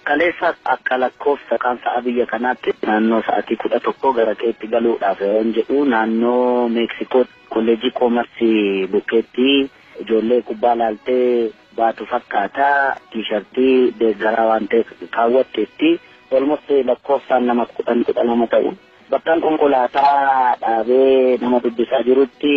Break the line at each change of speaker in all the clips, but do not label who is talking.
Kaleessa akka lakkoofsa kaan sa'a biyya kanaatti naannoo sa'atii 11 gara qeetti galuudhaaf yeroon jedhu naannoo Meeksikootti Kolleejjii Koomarsii bukkeetti ijoollee kubbaa laaltee baatu fakkaata. Tiishartii deeggaraa waan ta'eef kaawwatteetti. Olmost lakkoofsaan nama 10, 12 ta'u. Bakkan konkolaataa dhaabee nama dubbisaa jirutti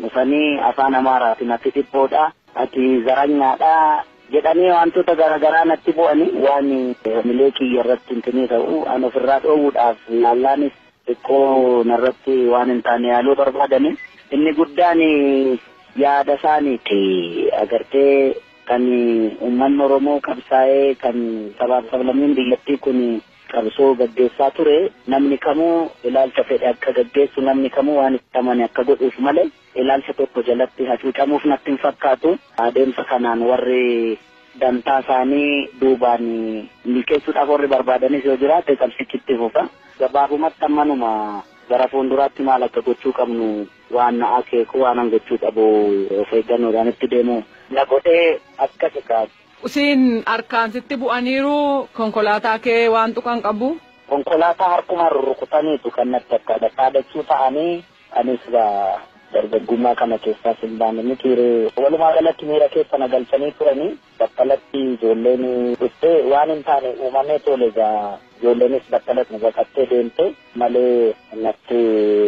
dhufanii afaan Amaaraatiin ati dhiphoodha, ati zaranyaadha, jedhanii waantota garaagaraa natti bu'ani waan hamilee kiyya irratti hintinii ta'u an ofirraa dhoowwuudhaaf yaallaanis xiqqoo narratti waan hin taane yaaluu barbaadani inni guddaan yaada isaaniiti agartee kan uummanni Oromoo qabsaa'ee kan sabaaf sablammiin biyyattii kun qabsoo gaggeessaa ture namni kamuu ilaalcha fedhe akka gaggeessu namni kamuu waan itti amane akka godhuuf malee ilaalcha tokko jalatti hacuucamuuf natti hin fakkaatu. Adeemsa kanaan warri dantaa isaanii duubaan milkeessuudhaaf warri barbaadanis yoo jiraate qabsichi itti fufa. Gabaabumatti amma numa gara fuulduraatti maal akka gochuu qabnu waan akeeku waanan gochuu qabu of eeggannoodhaan itti deemu na godhee akkas egaa. Siin harkaan
sitti bu'aniiru konkolaataa kee waan tuqan qabu? Konkolaataa harkumaan
rurrukutaniitu kan natti akka dhadhaadachuu ta'anii Ani silaa dargaggummaa kana keessaas hin baane mitii ree? Walumaa galatti miira keessa na galchanii turanii battalatti ijoolleen dhuftee waan hin taane uumamee toole egaa ijoolleenis battalatti nu baqattee deemte malee natti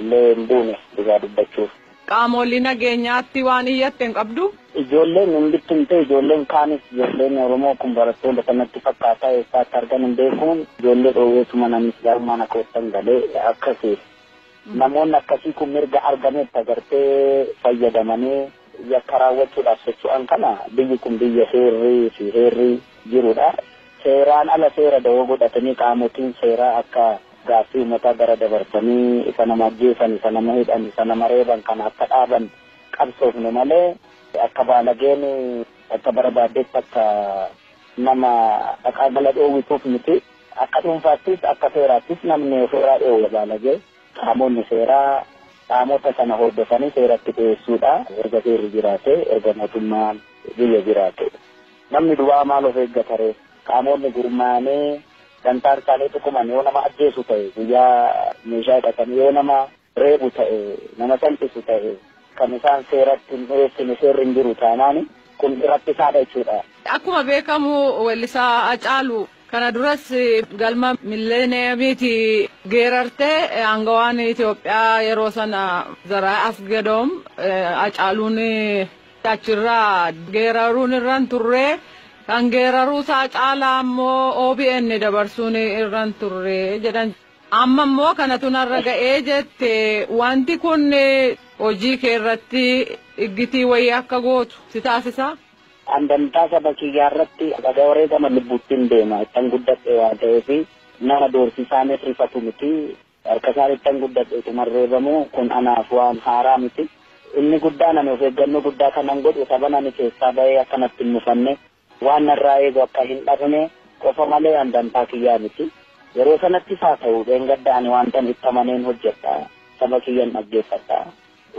illee hin buune dhugaa dubbachuuf. Qaamoolii
nageenyaatti waan iyyatte hin qabduu? Ijoolleen hin
bittimtee ijoolleen kaanis ijoolleen Oromoo kun barattoota sanatti fakkaataa eessaa akka argan hin beekuun ijoollee dhoowweetuman anis gaarummaan akka ottan galee akkasi. Namoonni akkasii kun mirga argametti agartee fayyadamanii yakka raawwachuudhaaf socho'an kana biyyi kun biyya heerri fi heerri jirudha. Seeraan ala seera dawoo godhatanii qaamotiin seeraa akka gaaffii uummataa gara dabarsanii isa nama ajjeesan, isa nama hidhan, isa nama reeban kana akka dhaaban qabsoofne malee akka baalageen akka barbaaddetti akka nama dhaqaa gala dhoowwituuf miti. Akka dhuunfaattis akka seeraattis namni ofirraa dhoowwa baalagee qaamonni seeraa qaamota sana hordofanii seeratti dhiyeessuudha. Erga seerri jiraate, erga mootummaan biyya jiraate. Namni duwwaa maal of eeggataree? Qaamonni gurmaa'anii dantaan isaanii tuquman yoo nama ajjeesu ta'e guyyaa meeshaa hidhatanii yoo nama reebu ta'e, nama salphisu ta'e kan isaan seeratti hin dhiyeessine seerri hin jiru taanaan kun rakkisaadha jechuudha. Akkuma beekamu
weellisaa Hacaalu kana duras galma milleeniyamiiti geerarte aangawaan Itoophiyaa yeroo sana Zaraay Asgadoom Hacaaluun achirraa geeraruun irra hin turre kan geeraruu isaa caalaa immoo OBN dabarsuun irra hin turre jedhan. Amma immoo kanatu narra ga'ee jette. Wanti kun hojii kee irratti iggitii wayii akka gootu si taasisaa? An dantaa
saba kiyyaa irratti haga wareegama lubbuuttin deema. Ittan guddadhe waan ta'eef nama doorsisaanis rifatu miti. Harka isaan ittan guddadhe utuman reebamu kun anaaf waan haaraa miti. Inni guddaan ani of eeggannoo guddaa kanan godhu saban ani keessaa ba'ee akka natti hin mufanne Waan narraa eegu akka hin dhabne qofa malee an dantaa kiyyaa miti. Yeroo sanattis haa ta'u dheengadda ani waantan itti amaneen hojjedha. Saba kiyyan dhaggeeffadha.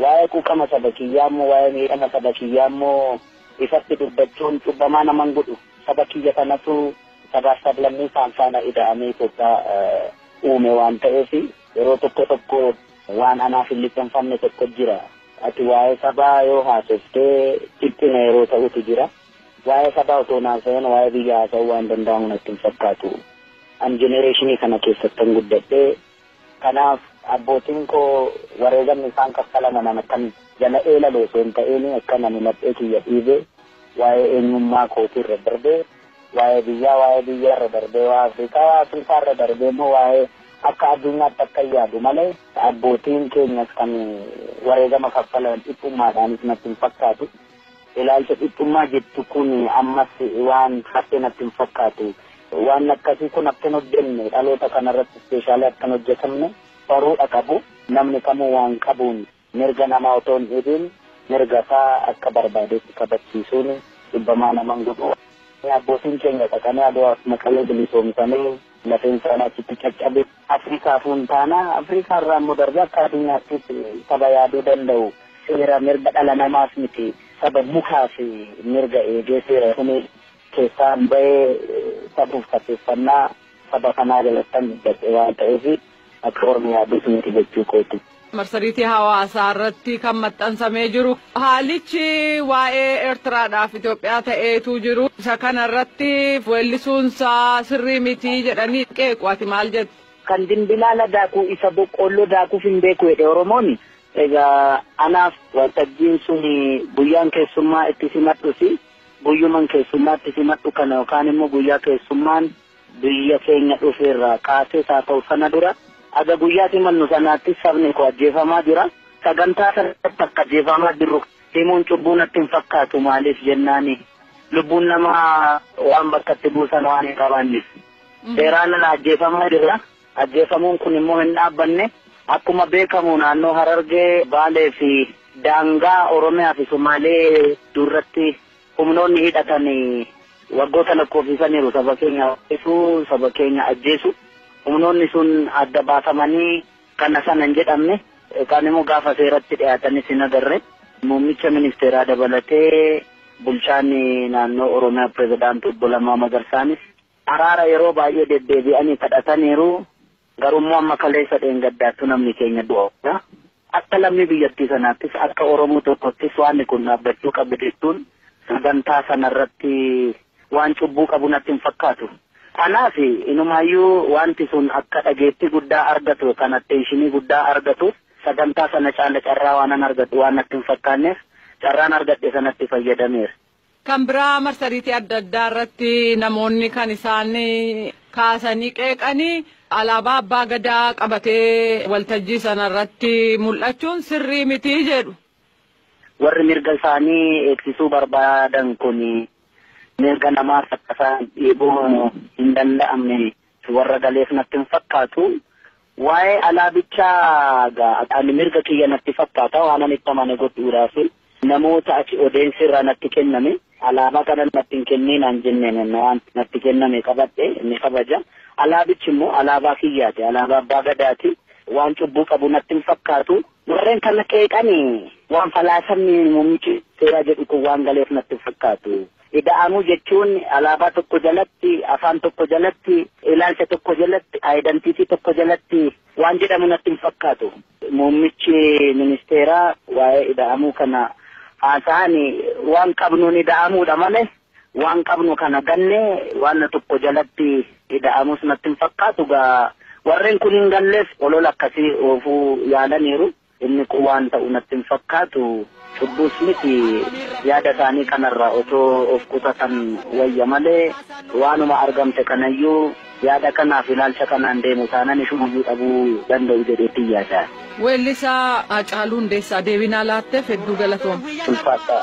Waa'ee quuqama saba kiyyaammoo, waa'ee miidhama saba kiyyaammoo ifatti dubbachuun cubbamaa nama hin godhu. Saba kiyya kanatu sabaaf sablammii kaan faana ida'amee Itoophiyaa uume waan ta'eef yeroo tokko tokko waan anaaf hin liqimfamne tokko jira. Ati waa'ee sabaa yoo haasofte dhiphina yeroo ta'utu jira. Waa'ee sabaa otoo hin haasa'in waa'ee biyyaa haasa'uu waan danda'amu natti hin fakkaatu. An jenereeshinii kana keessattan guddadhe. Kanaaf abbootiin koo wareegamni isaan kaffalaman an akkan jala eelalu osoo hin ta'in akkan ani laphee kiyya dhiibe waa'ee eenyummaa kootii irra darbee waa'ee biyyaa waa'ee biyyaa irra darbee waa'ee Afrikaa waa'ee Afrikaa irra darbee immoo waa'ee akka addunyaatti akkan yaadu malee abbootiin keenyas kan wareegama kaffalan dhiphummaadhaanis natti hin fakkaatu. Ilaalcha dhiphummaa jettu kun ammas waan hafe natti hin fakkaatu. Waan akkasii kun akka hin hojjenne dhaloota kana irratti ispeeshaalii akka hin hojjetamne baruudha qabu. Namni kamuu waan qabuun mirga namaa otoo hin dhiibiin mirga isaa akka barbaadetti kabachiisuun dhibbamaa nama hin godhu. Abbootiin keenya dhaqanii Adwaaf Maqalee bilisoomsanii lafeen isaanii achitti caccabe. Afrikaafuu hin taana, Afrikaa irraa immoo darbee akka addunyaattis saba yaaduu danda'u, seera mirga dhala namaas miti, saba mukaas mirga eegee seera tumee keessaa hin bahee safuuf safeeffannaa saba kanaa jalattan guddadhe waan ta'eef akka ormi yaadus miti jechuu kooti. marsariitii
hawaasaa irratti kan maxxansamee jiru haalichi waa'ee Eertiraadhaaf Itoophiyaa ta'eetu jiru isa kana irratti weellisuunsaa sirrii mitii jedhanii qeequ ati maal jette? Kan dimbilaala
daakuu isa boqqoolloo daakuuf hin beeku jedhe Oromoon egaa anaaf waltajjiin sun guyyaan keessummaa itti simadhusi guyyuman keessummaa itti simadhu kana yookaan immoo guyyaa keessummaan Biyya keenya dhufe irraa kaasees haa ta'u sana dura haga guyyaas imallu sanaattis sabni koo ajjeefamaa jira. Sagantaa sana irratti akka ajjeefamaa jirru himuun cubbuu natti hin fakkaatu maaliif jennaan lubbuun namaa waan bakka itti buusan waan hin qabaanneef. Seeraan ala ajjeefamaa jirra. Ajjeefamuun kun immoo hin dhaabbanne. Akkuma beekamu naannoo Harargee, Baalee fi daangaa Oromiyaa fi Sumaalee duratti Humnoonni hidhatan waggoota lakkoofsisaniiru saba keenya ajjeesuu, saba keenya ajjeesuu. Humnoonni sun adda baafamanii kana sana hin jedhamne yookaan immoo gaafa seeratti dhiyaatanis hin agarre. Muummicha ministeeraa dabalatee bulchaan naannoo Oromiyaa pirezidaantii obbo Lammaa Magarsaanis araara yeroo baay'ee deddeebi'anii kadhataniiru. Garuummoo amma kaleessa dheengaddaattuu namni keenya du'aa jira. Akka lammii biyyattii sanaattis akka Oromoo tokkottis waanni kun dhaabbachuu qaba jechuun sagantaa sanarratti waan cubbuu qabu natti hin fakkaatu. Kanaaf inumaayyuu waanti sun akka dhageettii guddaa argatu yookaan atteenshinii guddaa argatuuf sagantaa sana caala carraa waanan argadhu waan natti hin fakkaanneef carraan argadhe sanatti fayyadameera. Kan biraa
marsariitii adda addaa irratti namoonni kan isaan kaasanii qeeqanii alaabaa abbaa gadaa qabatee waltajjii sana irratti mul'achuun sirrii miti jedhu. Warri
mirga isaanii eegsisuu barbaadan kun mirga namaa saffisaan dhiibuu hin danda'amne Warra galeef natti hin fakkaatu. Waa'ee alaa bichaa gaa ani mirga kiyya natti fakkaata waan ani itti amane godhuudhaaf namoota achi odeensi irraa natti kenname alaabaa kana natti hin kenninaan jenneen waan natti kenname qabadhe ni kabaja. Alaabichi immoo alaabaa kiyyaati alaabaa abbaa gadaati waan cubbuu qabu natti hin fakkaatu. Warreen kana qeeqani waan falaasamni muummichi seeraa jedhu kun waan galeef natti hin fakkaatu. Ida'amuu jechuun alaabaa tokko jalatti, afaan tokko jalatti, ilaalcha tokko jalatti, ayidantiitii tokko jalatti waan jedhamu natti hin fakkaatu. Muummichi ministeeraa waa'ee ida'amuu kana haasa'an waan qabnuun ida'amuudha malee waan qabnu kana gannee waan tokko jalatti ida'amuus natti hin fakkaatu. Gaa warreen kun hin galleef olola akkasii oofuu yaalaniiru. Inni kun waan ta'u natti hin fakkaatu, cubbuus miti, yaada isaanii kanarraa otoo of qusatan wayya malee, waanuma argamte kanayyuu yaada kanaaf ilaalcha kanaan deemu taanan ishumayyuu dhabuu danda'u jedheetin yaada. Weellisaa
Haacaaluu Hundeessaa deebinaa laatteef hedduu galatoom. Ulfaadhaa.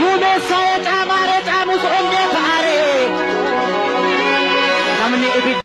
Duumessa ee caamaa ree caamus onnee ta'aa ree namni ibidda.